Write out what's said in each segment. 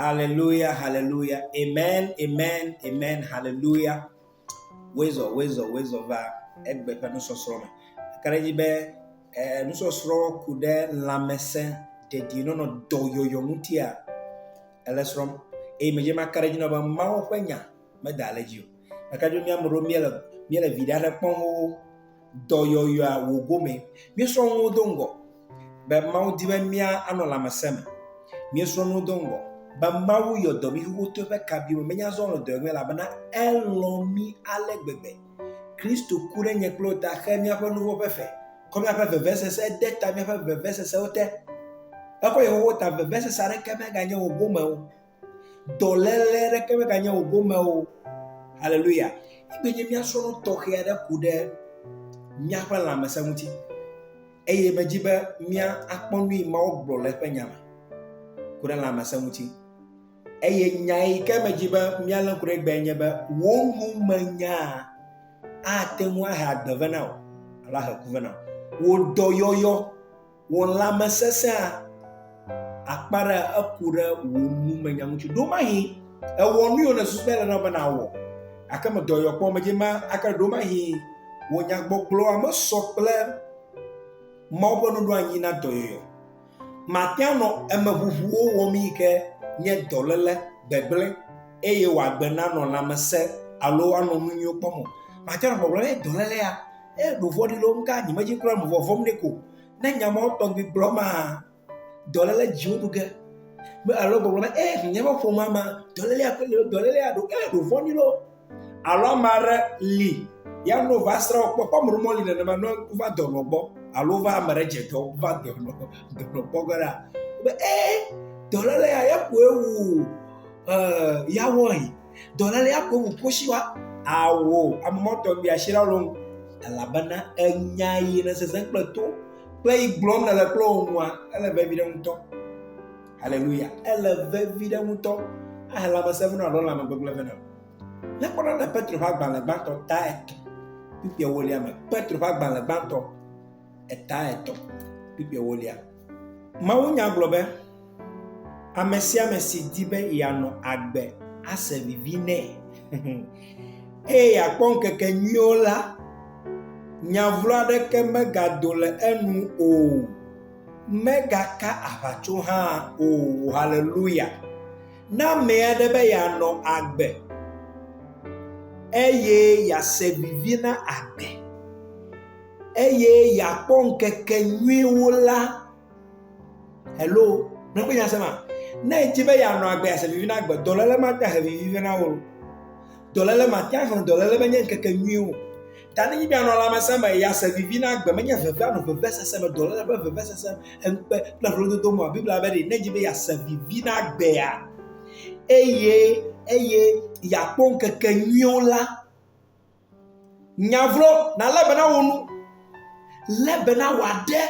Hallelujah, hallelujah. Amen, amen, amen, hallelujah. Wezɔ, wezɔ, wezɔ va egbe ƒe nusɔsrɔ̃ me. Eka ɖe edzi be eh, nusɔsrɔ̃ ku ɖe lãmesẽ dedienɔnɔ dɔyɔyɔ ŋutia. Ele srɔ̃m. Eye medze eme aka ɖe edzi nɔ be Mawu ƒe nya meda ale dzi o. Ɖeka dzo mía ame ɖewo míele míele viɖe aɖe kpɔm xoxo. Dɔyɔyɔa wò gome. Míesrɔ̃ nuwo do ŋgɔ be Mawu di be mía anɔ lãmesẽ me. Míesrɔ̃ nuwo do ŋgɔ be Mawu yɔ dɔ mí xoxo to eƒe kabiwo me. Menye azɔ wònɔ dɔ yɔm mí elabena elɔ̃ mí ale gbegbe. Kristo ku ɖe nye kple wò ta xe míaƒe nuwo ƒe fe. Kɔ míaƒe vevesese de ta míaƒe vevesesewo te. Ekɔ Yehowa ta vevesese aɖeke meganye wò gome o. Dɔléle aɖeke meganye wò gome o. Haleluya. Egbe nye míasrɔ̃ nu tɔxɛ aɖe ku ɖe míaƒe lãmesẽ ŋuti. Eye medzi be mía akpɔ nui Mawu gblɔ le eƒe nya me ku ɖe lãmesẽ ŋuti. Eye nya yi ke medzi be míalé ŋku ɖe egbea nye be wò numenyaa ate ŋu ahe agbe vɛ na wò alo ahe ku vɛ na wò. Wò dɔyɔyɔ, wò lãmesesẽa akpa ɖe eku ɖe wò numenya ŋuti. Ɖo mahi ewɔ nu yiwo nèsusu be ele na wò be nàwɔ gake me dɔyɔyɔ kpɔ medze ma ake ɖo mahi wò nyagbɔgblɔa mesɔ kple Mawu ƒe nuɖoanyi na dɔyɔyɔ. Mate ŋu anɔ emeʋuʋuwo wɔm yi ke nye dɔléle, gbegblẽ, eye wòagbe nanɔ lãmesẽ alo anɔ nu nyuiwo kpɔm o. Mate ŋu anɔ gbɔgblɔm be dɔléle ya, ee ɖo vɔ̃ɖi le wo ŋu kaka nyemedze kura o, mevɔ vɔ̃m nɛ ko. Ne nya mawo tɔgbi gblɔ maa, dɔléle dziwo ɖu ge. Alo gbɔgblɔ be, ee nye ƒe ƒomea mea, dɔlélea koe le wo, dɔlélea ɖo, ee ɖo vɔ̃ɖi le wo. Alo ame aɖe li ya ne wova srã wo kpɔ. Kpɔ ame ɖewo meli nenema ne wova dɔnɔ gbɔ alo wova ame ɖe dze dɔ wova dɔnɔ dɔnɔ gbɔ ge la be ee dɔlele ya ya koe wu ee ya wɔe. Dɔlele ya koe wu kosi wa. Awo ame mɔtɔ bi asi la lo elabena enya yi ne sese kple to kple yi gblɔm nele kple wo nua ele vevi ɖe ŋutɔ. Haleluya. Ele vevi ɖe ŋutɔ. Ehe lãmesẽ vena alo lãme gbegblẽ vena. Ne kpɔna le Petro ƒe agbalẽ gbãtɔ ta etɔ̃ kpikpi ewolia me. Petro ƒe agbalẽ gbãtɔ eta etɔ̃ kpikpi ewolia. Mawu nya gblɔ be ame sia ame si di be yeanɔ agbe ase vivi nɛ eye yeakpɔ ŋkeke nyuiwo la, nya vlo aɖeke megado le enu o. Megaka aʋatso hã o. Haleluya! Na ame aɖe be yeanɔ agbe eye yease vivi na agbe eye yeakpɔ ŋkeke nyuiwo la. Alo, nya kpɔ nya se ma? Ne èdi be yeanɔ agbe eye yease vivi na agbe, dɔléle mate ŋu ahe vivi vɛ na wò o. Dɔléle mate ŋu ahe wò o. Dɔléle menye ŋkeke nyui o. Ta nenye be anɔ lãmesẽ me, ya se vivi na agbe menye veve anɔ vevesese me, dɔléle kple vevesese, ŋukpe kple vlododo me oa? Biblia be ɖe, ne edzi be yease vivi na agbea, eye eye yeakpɔ ŋkeke nyuiwo la, nya vlo nalé be na wò nu, lé be na wò aɖe,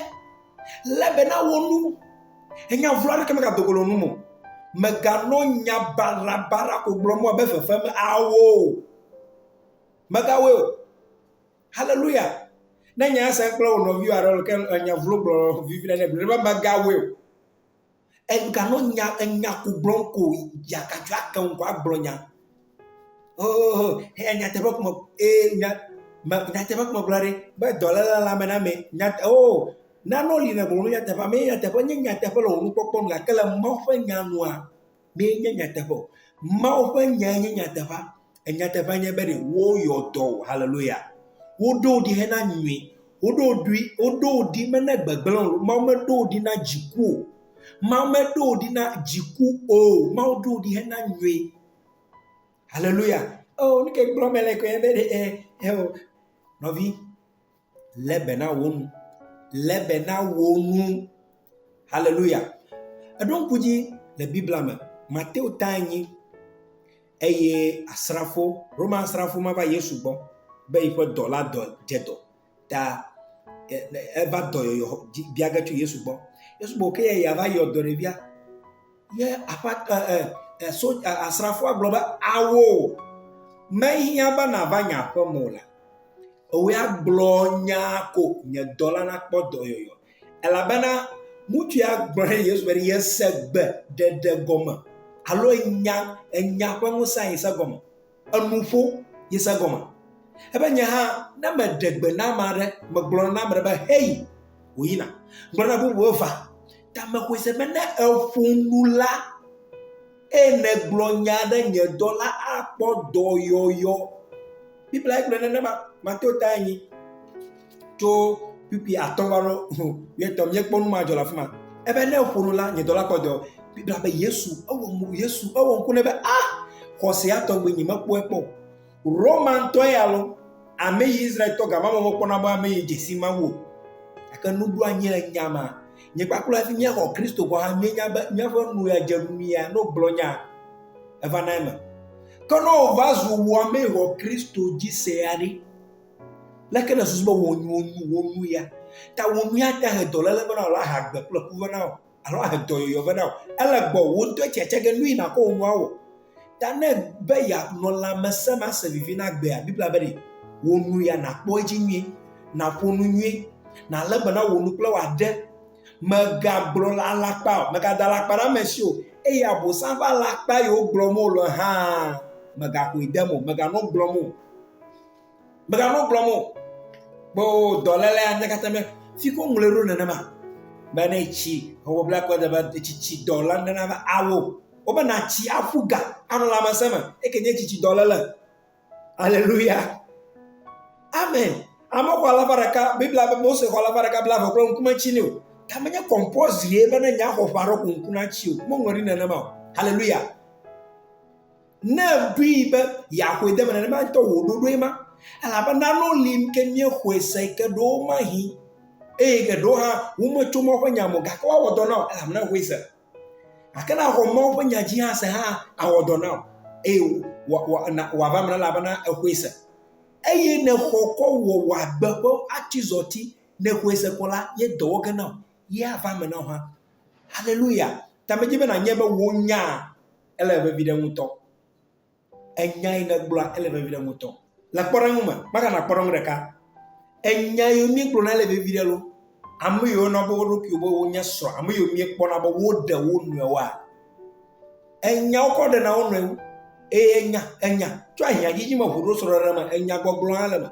lé be na wò nu. Enya vlo aɖeke megado go le wò nu me o. Meganɔ nya barabara ko gblɔm abe fefem awoo. Megawɔe o. Haleluya! Ne nya sia kple wò nɔviwo alo ke enya vlo gblɔ vivi ɖe gblɔ be megawɔe o. Egano nya enya ko gblɔm ko yakatsɔ ake ŋu ko agblɔ nya. Ohoho, eya nyateƒe ko me ee nya me nyateƒe ko megblɔ ɖi be dɔléle le ame na ame. Nya o oh, nanewo li nègblɔ nu nyateƒe ame nyateƒe nye nyateƒe le wò nukpɔkpɔ nu gake le Mawu ƒe nya nua mee nye nyateƒe o. Mawu ƒe nyae nye nyateƒea. Nyateƒea nye be ɖe woyɔ dɔ wò. Haleluya. Woɖo wò ɖi hena nyui. Woɖo wò ɖi, woɖo wò ɖi mena gbegblẽ o. Mawu meɖo wò ɖi na dziku o. Mawu meɖo wò ɖi na dziku o. Mawu ɖo wò ɖi hena nyui. Haleluya. Oo, nu ke gblɔm mele koe nye be ɖe e, eo, nɔvi, Lé be na wò nu. Lé be na wò nu. Haleluya. Eɖo ŋku dzi le Biblia me, Mateo ta enyi eye asrafo, Roma asrafo ma va Yesu gbɔ be yiƒe dɔla dɔ dze dɔ ta eva dɔyɔyɔ bia ge tso Yesu gbɔ. Yesu gblɔ ke ya va yɔ dɔ ɖevia. Ye aƒa e e so asrafoa gblɔ be, Ao, mehiã be nàva nye aƒe me o la, ewɔ ya gblɔ nyaa ko nye dɔla nakpɔ dɔyɔyɔ. Elabena ŋutsu ya gblɔ ɖe Yesu be yese gbe ɖeɖe gɔme alo enya enya ƒe ŋusẽ ayi se gɔme. enuƒo ye se gɔme. Ebe nye hã ne meɖe gbe na ame aɖe, megblɔ na ame aɖe be heyi, wòyina. Gblɔ na bubu be va. Ta mexɔe se be ne eƒo nu la eye nègblɔ nya aɖe nye dɔla akpɔ dɔyɔyɔ. Biblia gblɔ nenema. Mateo ta enyi. tso kpukpui atɔ̃ va ɖo ho etɔ míekpɔ nu ma dzɔ le afi ma ebe ne eƒo nu la nye dɔla kpɔ dɔ bibla be yesu ewɔ mo yesu ewɔ ŋku ne be a ah, xɔsea tɔgbe nyi mekpɔe kpɔ romantɔ ya lo ame yi israel tɔ gama mo mekpɔna be ame yi dzesi ma wo gake nuɖo anyi le nya ma nye kpakple hafi míexɔ kristo kɔ ha míenya be míaƒe nu ya dze nu ya no gblɔ nya eva na eme ke ne wòva zu wɔmee wɔ kristo dzi sea ɖi Leke nèsusu be wò nu wò nu ya ta wò nu ya ate ahe dɔléle vɛ na wò alo ahe agbe kple ku vɛ na wò alo ahe dɔyɔyɔ vɛ na wò? Ele gbɔwò wò ŋutɔe tsi atsia ge nui nàkɔ wò nua wɔ ta ne be yeanɔ lãmesẽ me ase vivi na agbea. Biblia be ɖe wò nu ya nàkpɔ edzi nyuie, nàƒo nu nyuie, nàlé be na wò nu kple wò aɖe. Mègagblɔ le alakpa o, mègada alakpa ɖe ame si o, eye Abosam ƒe alakpa yi wogblɔm wole hã mègaxɔe dem o, mèganɔ gblɔm o. Megale nu gblɔm o. Kpɔ dɔléle ya nyakata mɛ. Fi ko ŋlɔe ɖo nenema. Be ne etsi ewɔ bla kɔ de be tsitsi dɔ la nena be awo. Wobe natsi aƒu ga anɔ lãmesẽ me. Eke nye tsitsi dɔléle. Aleluya. Amen. Ame xɔ alafa ɖeka, Biblia be Mose xɔ alafa ɖeka bla eve kple ŋku metsi nɛ o. Ta menye kɔmpɔzri be ne nya xɔ ƒe aɖe ko ŋku natsi o. Womeŋlɔ ɖi nenema o. Aleluya. Ne èɖoe be yeaxɔe de eme nenema ŋutɔ wò ɖoɖoe ma. Elabe nanewo li ke míexɔe se yi ke ɖewo mahi eye geɖewo hã wometso Mawu ƒe nya me o gake woawɔ dɔ na wò elabe nèxɔe se. Gake ne àxɔ Mawu ƒe nya dzi hã se hã awɔ dɔ na wò eye wò wò wòava eme na wò elabena exɔe se. Eye ne xɔ kɔ wɔ wò agbe ƒe atizɔti ne xɔe se kɔ la, ye dɔ wɔ ge na wò ye ava eme na wò hã. Haleluya! Ta medze be nànyae be wò nyaa, ele vevi ɖe ŋutɔ. Enya yi nègblɔa, ele vevi ɖe ŋutɔ. Le kpɔɖeŋu me, Martha na kpɔɖeŋu ɖeka. Enya yiwo míegblɔna ele vevi ɖe lo. Ame yiwo yɔna be wo ɖokuiwo be wonye srɔ̃, ame yiwo míekpɔna be woɖe wo nɔewoa, enya wokɔ ɖena wo nɔewo. Eye enya, enya tso ahiãdzidzi me ʋu ɖo srɔ̃ɖeɖe me, enyagbɔgblɔ hã le eme.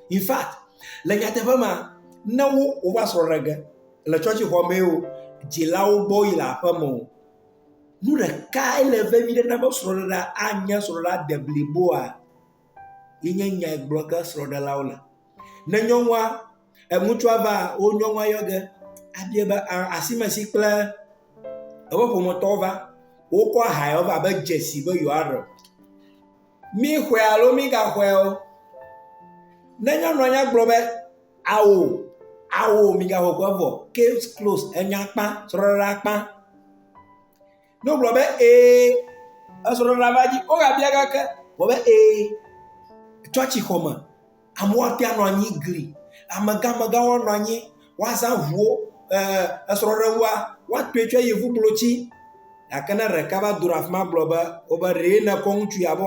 In fact, le nyateƒe mea, ne wo wova srɔ̃ɖe ge le tsɔtsixɔ mee o, dzilawo gbɔ woyi le aƒeme o, Nu ɖekae le vevi ɖe na be srɔ̃ɖeɖea anye srɔ̃ɖeɖea de bliboa ye nye nya yi gblɔ ge srɔ̃ɖelawo le. Ne nyɔnua e ŋutsua va wo nyɔnua yɔ ge abiae be a asime si kple eƒe ƒometɔwo va wokɔ aha yewo va abe dzesi be yewoaɖe o. Míxɔe alo mígaxɔe o, ne nyɔnua nya gblɔ be ao, ao migaxɔ kua vɔ, case closed, enya kpã, srɔ̃ɖeɖea kpã. Ne wogblɔ be ee, esrɔ̃ɖeɖea va dzi, wogabia gake, wògblɔ be ee, tsɔtsixɔ me. Amewo ate ŋu anɔ anyi gli, amegãmegã woanɔ anyi, woazã ŋuwo, esrɔ̃ɖeŋua, woatɔe tso yevukplotsi. Gake ne ɖeka va do ɖe afi ma gblɔ be, wobe ɖe nèkɔ ŋutsu abe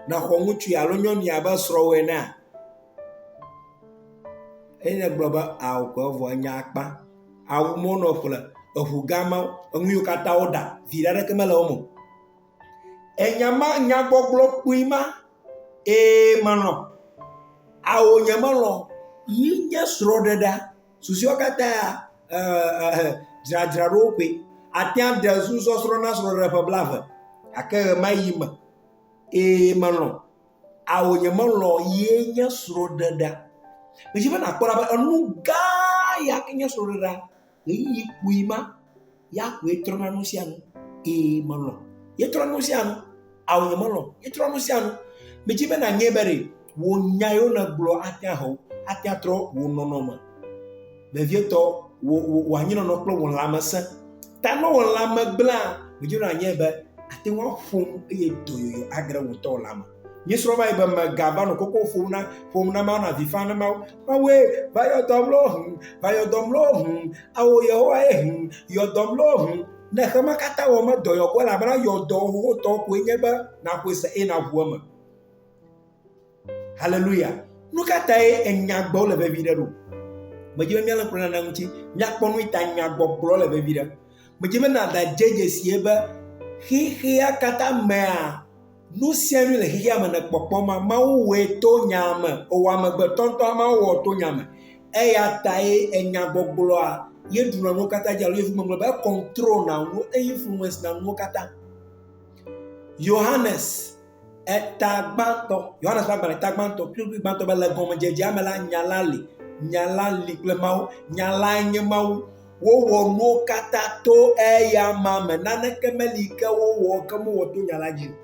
nèxɔ ŋutsu alo nyɔnu ya abe srɔ̃wò enea, ye nègblɔ be ao ko evɔ enya akpa. Awu ma wonɔ ƒle, eŋugã ma, enu yiwo katã woɖa, viɖe aɖeke mele wo me o. Enya ma nyagbɔgblɔ kpui ma, ee melɔ̃, ao nyemelɔ̃ yi nye srɔ̃ɖeɖea, susɔewo katã ee dzradzraɖo koe. Ate ŋu aɖe susɔsrɔ̃ na srɔ̃ɖeɖe ƒe blaeve gake ɣemaɣi me, ee melɔ̃, ao nyemelɔ̃ ye nye srɔ̃ɖeɖea. Medi be nàkpɔ ɖa be enu gã ya enye srɔ̃ɖeɖea. Ɣeyiɣi kpui ma, ya koe trɔna nu sia nu. Ee, melɔ̃. Yetrɔ nu sia nu. Ao, nyemelɔ̃. Yetrɔ nu sia nu. Medi be nànyɔe be ɖe wò nya yiwo nègblɔ ate ŋu ahe wò, ate ŋu atrɔ wò nɔnɔme vevietɔ, wò, wò, wò anyinɔnɔ kple wò lãmesẽ. Ta ne wò lãme gblẽa, medi be nànyɔe be àte ŋu aƒo nu eye dɔyɔyɔ agre wò ŋutɔ wò lãme. Míesrɔ̃ va yi be mega va nɔ koko ƒom na ƒom na Mawu na avi fam na Mawu. Mawue va yɔ dɔ mlɔ hum, va yɔ dɔ mlɔ hum, ao Yehowa ye hum, yɔ dɔ mlɔ hum. Ne xe ma katã wɔ me dɔ yɔ kɔ elabena yɔ dɔ xoxotɔ koe nye be naƒoe se eye naʋu eme. Haleluya. Nu ka tae enya gbɔgblɔ le vevi ɖe ɖo? Medzi be míalé ŋku ɖe nane ŋuti. Míakpɔ nu ta nya gbɔgblɔ le vevi ɖe. Medzi be nàda dze dzesie be xexea katã mea Nu sia nu le xexea me nèkpɔkpɔ ma, Mawu wɔe to nya me, ewɔ amegbetɔ ŋutɔ hã Mawu wɔ to nya me. Eya tae enya gbɔgblɔa ye ɖuna nuwo katã dzi alo ye ŋumeŋlɔ be econtrol na nuwo, e influence na nuwo katã. Yohanes eta gbãtɔ, Yohanes ƒe agbalẽ ta gbãtɔ, kplikpli gbãtɔ be le gɔmedzedzea me la, nya la li, nya la li kple Mawu, nya lae nye Mawu. Wowɔ nuwo katã to eya ma me. Naneke meli ke wowɔ ke womewɔ to nya la dzi o.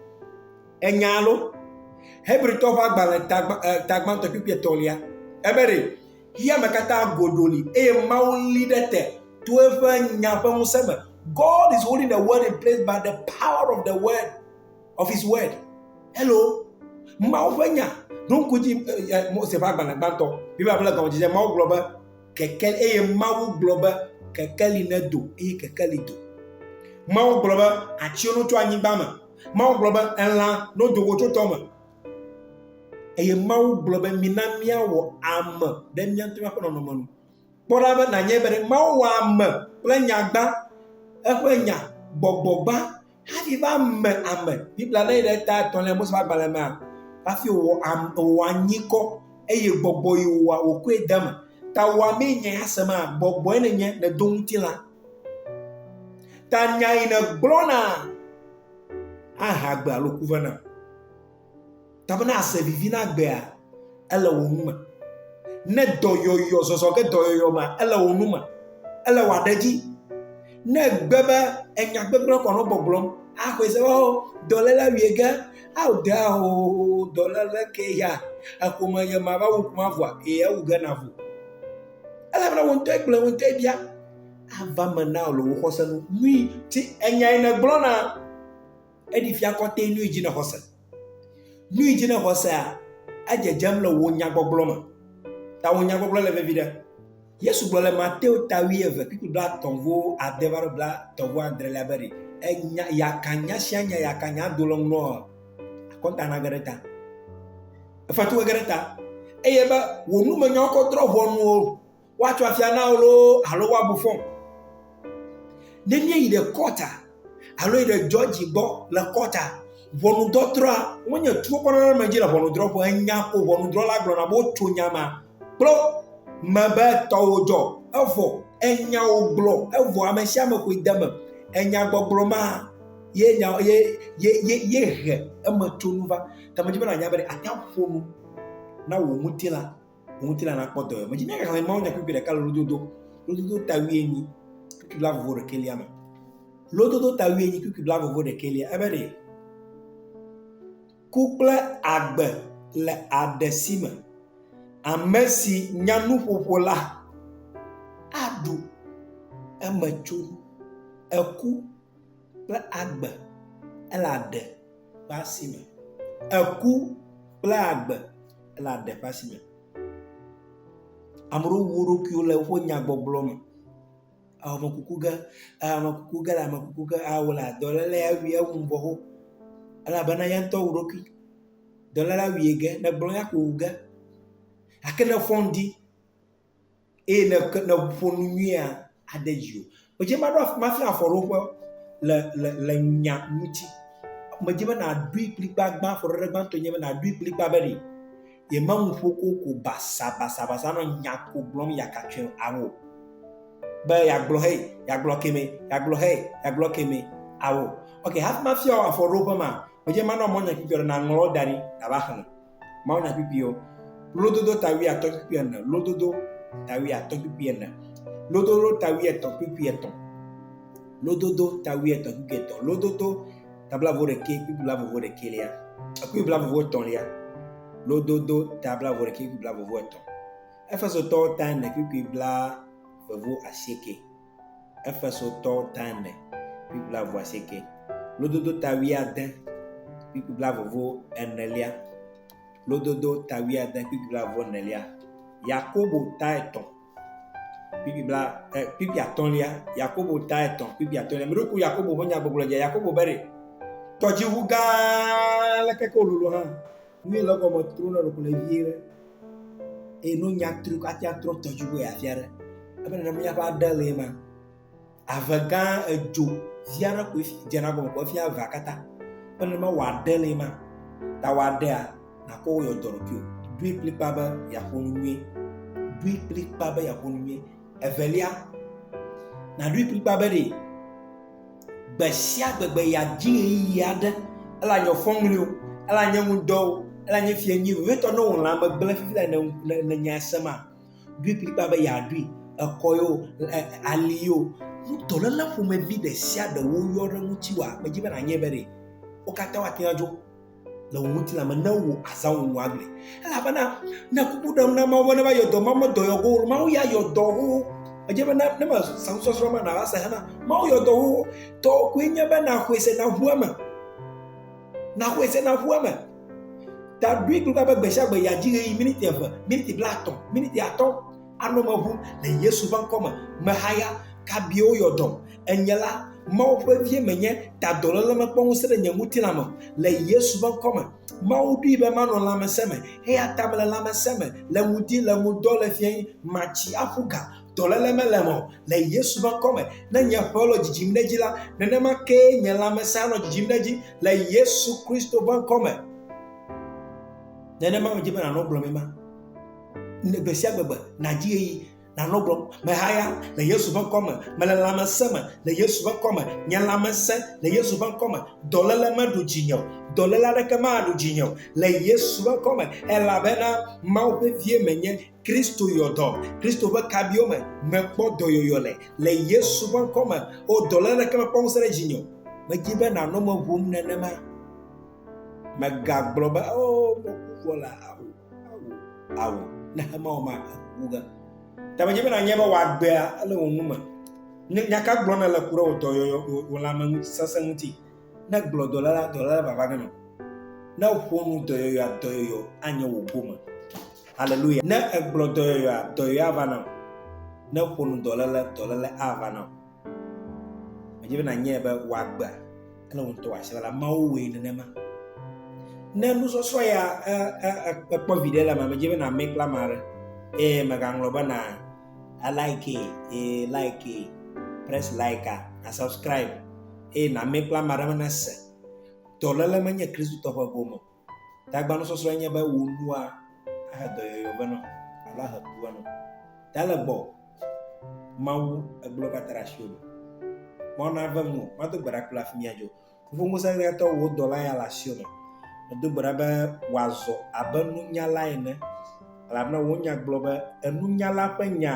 Ènya alo? Hebritɔwo ƒe agbalẽ tagbãtɔ kpukpui etɔ̃lia, ebe ɖe, Xexeame katã godo li eye Mawu li ɖe te to eƒe nya ƒe ŋusẽ me. God is holding the world in place by the power of the word, of his word. Hello? Mawu ƒe nya ɖo ŋku dzi Mose ƒe agbalẽ gbãtɔ. Biblia ƒe gɔmedzedze, Mawu gblɔ be, keke eye Mawu gblɔ be kekeli nedo eye kekeli do. Mawu gblɔ be atsiwo notso anyigba me. Mawu gblɔ be elã nodo go tso tɔ me. Eye Mawu gblɔ be mina míawɔ ame ɖe mía ŋutɔ míaƒe nɔnɔme nu. Kpɔ ɖa be nànyae be Mawu wɔ ame kple nyagba, eƒe nya, gbɔgbɔgba, Hafi va me ame, Biblia lé ɖe ta etɔ̃lia Mose ƒe agbalẽ mea, hafi wòwɔ am, wòwɔ anyikɔ, eye gbɔgbɔ yi wòwɔa wòkɔe de eme. Ta wòa mee nya ya sema, gbɔgbɔe nènye, nèdo ŋutilã. Ta nya yi nègblɔna ahea gbe alo ku vena. Ta bena àse vivi na agbea, ele wò nu me. Ne dɔyɔyɔ, zɔzɔ ge dɔyɔyɔ mea, ele wò nu me. Ele wò aɖe dzi. Ne gbe be enya gbegblẽ kɔ nɔ gbɔgblɔm, axɔe se be o oh, dɔléla wie ge, ao de ao dɔléla ke ya, eƒome ye ma va wu ƒomea vɔa, ee ewu ge na vo. Ele bena wò ŋutɔ gblẽ, wò ŋutɔ bia, ava me na wò le wò xɔse nu. Nui ti enyae nègblɔna. Eɖi fia kɔtɛ nu yi dzi ne xɔse. Nu yi dzi ne xɔsea, edzedzem le wò nyagbɔgblɔ me. Ta wò nyagbɔgblɔ le vevi ɖe. Yesu gblɔ le Mateo ta wuieve, kpikpi blaetɔ̃ vo ade va ɖo blaetɔ̃ vo adrelia be ɖe enya yaka nya sia nya yaka nya do le ŋlɔ akɔnta na ge ɖe ta. Efetu ge ɖe ta. Eye be wò numenyawo kɔ drɔ ʋɔnu o. Woatso afia na wò loo alo woabu fɔ wò. Ne míeyi ɖe kɔta alo yi ɖe jɔji gbɔ le kɔta, ʋɔnudɔdrɔ̃a wonye tuwo kpɔ nana ame dzi le ʋɔnudrɔ̃ƒe. Enya ko ʋɔnudrɔ̃la gblɔna be wotso nya ma kple me be tɔwò dzɔ evɔ enya wògblɔ evɔ ame sia ame koe de eme. Enya gbɔgblɔ ma ye nya ye ye ye ye he eme tso nu va. Te medzi be nànya be ate ŋu aƒo nu na wò ŋutilã. ŋutilã nakpɔ dɔ yome. Dzi ne xexlẽ Mawu nya kpukpui ɖeka le lododo, lododo ta wuienyi, kpukpui bla vovo ɖekɛlia me. Lododo ta wuienyi, kpukpui bla vovo ɖekɛlia, ebe ɖe ku kple agbe le aɖe si me. Ame si nya nuƒoƒo la aɖu eme tso eku kple agbe ele aɖe ƒe asi me. Eku kple agbe ele aɖe ƒe asi me. Ame aɖewo wu wo ɖokuiwo le woƒe nyagbɔgblɔ me. Ewɔ ame kuku ge, ewɔ ame kuku ge, ewɔ ame kuku ge eye wole dɔléle ya wum ewu ŋgɔ wo elabena ya ŋutɔ wu eɖokui. Dɔléle ya wui ge, negblɔ ya kowu ge gake nefɔ ŋdi. eye ne ke ne ƒo nu nyuie ade dzi o. Medze be maɖo af mafia afɔɖoƒe le le le nya ŋuti. Medze be nàɖoe kplikpagbã afɔɖoɖe gbãtɔ enye be nàɖoe kplikpaa be ɖe yemenu ƒo koko basabasabasa nɔ nya ko gblɔm yakatsyɔe ao be yeagblɔ hɛ yeagblɔ kemɛ yeagblɔ hɛ yeagblɔ kemɛ ao. Ok hafi mafia wò afɔɖoƒe maa, medze be manɔ mɔnye kpɔtɔ ɖe nàŋlɔ wo da ɖi nàva xlẽ. Mawunya kpukpuiwo. Lododo ta wuiatɔ̃ kpukpui ene. Lododo ta wuiatɔ̃ kpukpui ene. Lododo ta wuietɔ̃ kpukpui etɔ̃. Lododo ta wuietɔ̃ kpukpui etɔ̃. Lododo ta blaevo ɖekɛ kpukpui blaevo ɖekɛlia. Kpukpui blaevo etɔ̃lia. Lododo ta blaevo ɖekɛ kpukpui blaevo etɔ̃. Efesotɔwo ta ene kpukpui blaevo asieke. Efesotɔwo tãme kpli blavuasieke, lododo ta wuiade kpli blavuvo enelia, lododo ta wuiade kpli blavuvo enelia, Yakobo ta etɔ̃ kpli bla eh, kpli atɔ̃lia, Yakobo ta etɔ̃ kpli atɔ̃lia. Mi ɖoku Yakobo ƒe nyagbɔgblɔ dze Yakobo be ɖe tɔdziʋu gã leke ke wololo hã Nui le gɔme tro na ɖokui le vie ɖe. Eye no nya tru katia trɔ tɔdzi wo ya fia ɖe. Ebe nana mia ba de le ma. Ave gã edzo via ɖe ko fi dze na gɔme ko fia va kata. Ebe nana ma wa de le ma. Ta wa de a na ko yo dɔrɔ kyo. Dui klikpa be ya ko nui. Dui klikpa be ya ko nui. Evelia, nàɖoe kplikpaa be ɖe gbe sia gbe gbe yeadzi ɣeyiɣi aɖe, elanyɔ fɔŋli o, elanye ŋudɔ o, elanye fiẽ nyui o, vevitɔ ne wò lãme gblẽ fifi le ne, ne, ne nyae sem a, ɖoe kplikpaa be yeaɖoe. Ekɔ ye o, e, ali ye o, nu dɔléle ƒomevi ɖe sia ɖe woyɔ ɖe ŋutiwòa, medzi be nànyae be ɖe wo katã woate ŋu adzo le wò ŋutilã me ne wò azãwo wò agble elabena ne kuku ɖem na mawu ne va yɔ dɔ mawu medɔ yɔ go mawu ya yɔ dɔ wo edze be ne ma sasɔsrɔ̃ ma nàva se hena mawu yɔ dɔ wo tɔ koe nye be naxɔe se naʋu eme naxɔe se naʋu eme ta ɖoe kple be gbe sia gbe yeadzi ɣeyiɣi miniti eve miniti blaetɔ̃ miniti atɔ̃ Anɔ me ʋum le Yesu ƒe ŋkɔ me. Mehaya, kabie woyɔ dɔm? Enye la, Mawu ƒe vie menye, ta dɔléle mekpɔ ŋusẽ ɖe nye ŋutilã me o. Le Yesu ƒe ŋkɔ me, Mawu ɖoe be manɔ lãmesẽ me, eya ta mele lãmesẽ me, le ŋudi, le ŋudɔ, le fiẽɣi, matsi, aƒu ga, dɔléle mele eme o, le Yesu ƒe ŋkɔ me. Ne nye ƒewo le dzidzim ɖe edzi la, nenema kee nye lãmesẽ anɔ dzidzim ɖe edzi le Yesu Kristo ƒe ŋkɔ me. Nenema medze be nànɔ gblɔmee ma. Ne gbe sia gbe nàdi ɣeyiɣi nanɔ gblɔm mehaya le yesu ƒe ŋkɔ me mele lãmesẽ me le yesu ƒe ŋkɔ me nye lãmesẽ le yesu ƒe ŋkɔ me dɔléle meɖu dzinye o dɔléle aɖeke maɖu dzinye o le yesu ƒe ŋkɔ me elabena mawu ƒe vie menye kristo yɔ dɔ kristo ƒe kabiwo me mekpɔ dɔyɔyɔ le le yesu ƒe ŋkɔ me o dɔléle aɖeke mekpɔ ŋusẽ ɖe dzinye o medi be nanɔ me ʋum nenema megagblɔ be o oh, mɔku vɔ la Awu, ne hemawɔ ma, eku ge. Tame dze be nanye be wòagbea ele wò nu me. Nya ka gblɔ nèle ku ɖe wò dɔyɔyɔ, wò lãme ŋuti, sesẽ ŋuti. Ne gblɔ dɔla la, dɔla la vava nenɔ. Ne ƒo nu dɔyɔyɔa, dɔyɔyɔ anye wò gome. Haleluya. Ne egblɔ dɔyɔyɔa, dɔyɔyɔa va nɔ. Ne ƒo nu dɔlele, dɔlele ava nɔ. Medze be nanyae be wòagbea kple wò ŋutɔ wòase la, Mawu wɔe nenema. Ne nusɔsrɔ̃ ya ekpɔ viɖe le eme, medze be nàmɛ kple ame aɖe eye mègaŋlɔ be na like ye like ye press like a na subscribe eye nàmɛ kple ame aɖe be nase dɔléle menye Kristotɔ ƒe gome o. Tagbanusɔsrɔ̃e nye be wò nua ahe dɔyɔyɔ vɛ nɔ alo ahe ku vɛ nɔ. Ta le gbɔ Mawu egblɔ katã ɖe asiwò me. Mawu nave ŋuwò. Mado gbe ɖa kple afi mía dzo. Fofo Ŋusẽtɔ, wò dɔla ya le asiwò me. Medo gbe ɖa be wòazɔ abe nunyala ene, elabena wò nya gblɔ be enunyala ƒe nya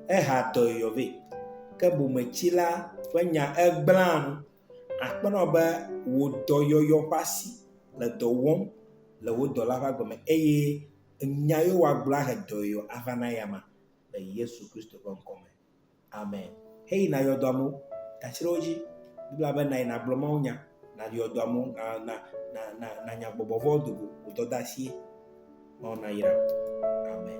ehea dɔyɔyɔ vɛ, ke bometsila ƒe nya egblẽa nu. Akpɔnɔ be wò dɔyɔyɔ ƒe asi le dɔ wɔm le wò dɔla ƒe agbe me eye nya yewo woagblɔ ahe dɔyɔyɔ ava na eyama le Yesu Kristo ƒe ŋkɔ me. Amen. Heyi nayɔ dɔa mo, gatsri wo dzi. Biblia be nayi nagblɔ mawo nya, nayɔ dɔa mo, na, na, na, na, nanya gbɔgbɔ vɔwo do go, wò dɔdasie. Mawu nayra wò. Amen.